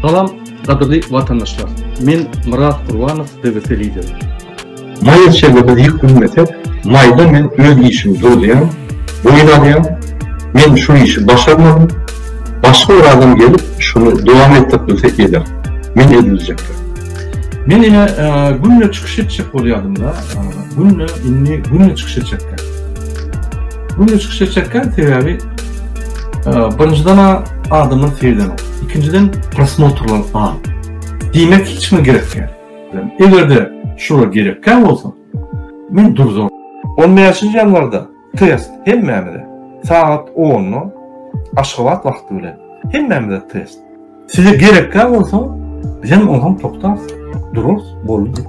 Salam gadyrly watandaşlar men Myrat Gurbanow DBP lideri. Maýa çebi biz ýük bilmesek maýda men öz işimi durdýan boýun alýan men şu işi başarmadym başga bir adam gelip şuny dowam etdirip bilse eder men ediljekdir. Men ine günde çykyş etjek bolýadymda günde indi günde çykyş etjekkä günde çykyş etjekkä sebäbi Birinjiden adamlar seýden ol. Ikinjiden prosmotrlar az. Diýmek hiç mi gerek ýa. Egerde şura gerek kä bolsa. Men durzo. 15-nji ýanwarda test hemmämize. Sagat 10-da Aşgabat wagty bilen hemmämize test. Size gerekkä bolsa, bizem onsoň toktas, durus, boldy.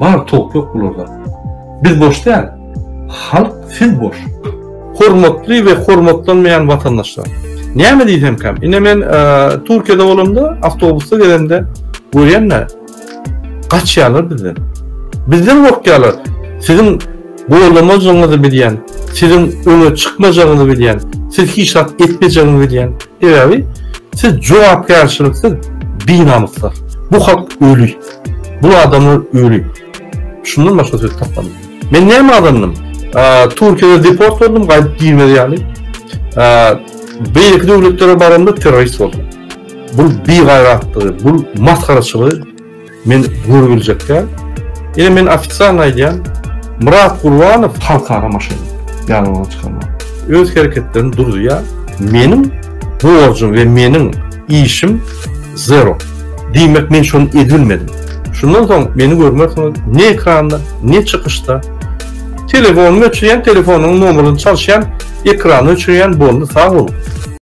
Bar tok yok bularda. Biz boş däl, halk siz boş. Hormatly we hormatlanmaýan watandaşlar. Näme diýsemkäm, ine men Türkiýede bolamda, awtobusda gezende görýän-de, Gaçýarlar bizden. Bizden gorkýarlar. Siziň golamajagyňyzy bilýän, siziň öňe çykmajagyňyzy bilýän, siz hiç zat etmejegiňizi bilýän. Sebäbi siz jogapkärçiliksiz binamyslar. Bu halk öli. Bu adamlar öli. Şundan başga söz tapmadım. Men näme adamdym? Türkiýede deport boldum, gaýdyp girmez ýaly. Beýleki döwletlere baramda terrorist boldum. Bu bigaýratlygy, bu masgaraçylygy men göri biljek däl. Ine men ofitsialny aýdýan, Myrat Gurbanow halkara maşgala ýanyndan çykarmaly. Öz hereketlerini durzuýar. Meniň borjum we meniň işim zero. Diýmek men şony edibilmedim. Şundan soň meni görmersiňiz ne ekranda, ne çykyşda. Telefonymy öçürýän, telefonyň nomerini çalyşýan, ekrany öçürýän boldy sag boluň.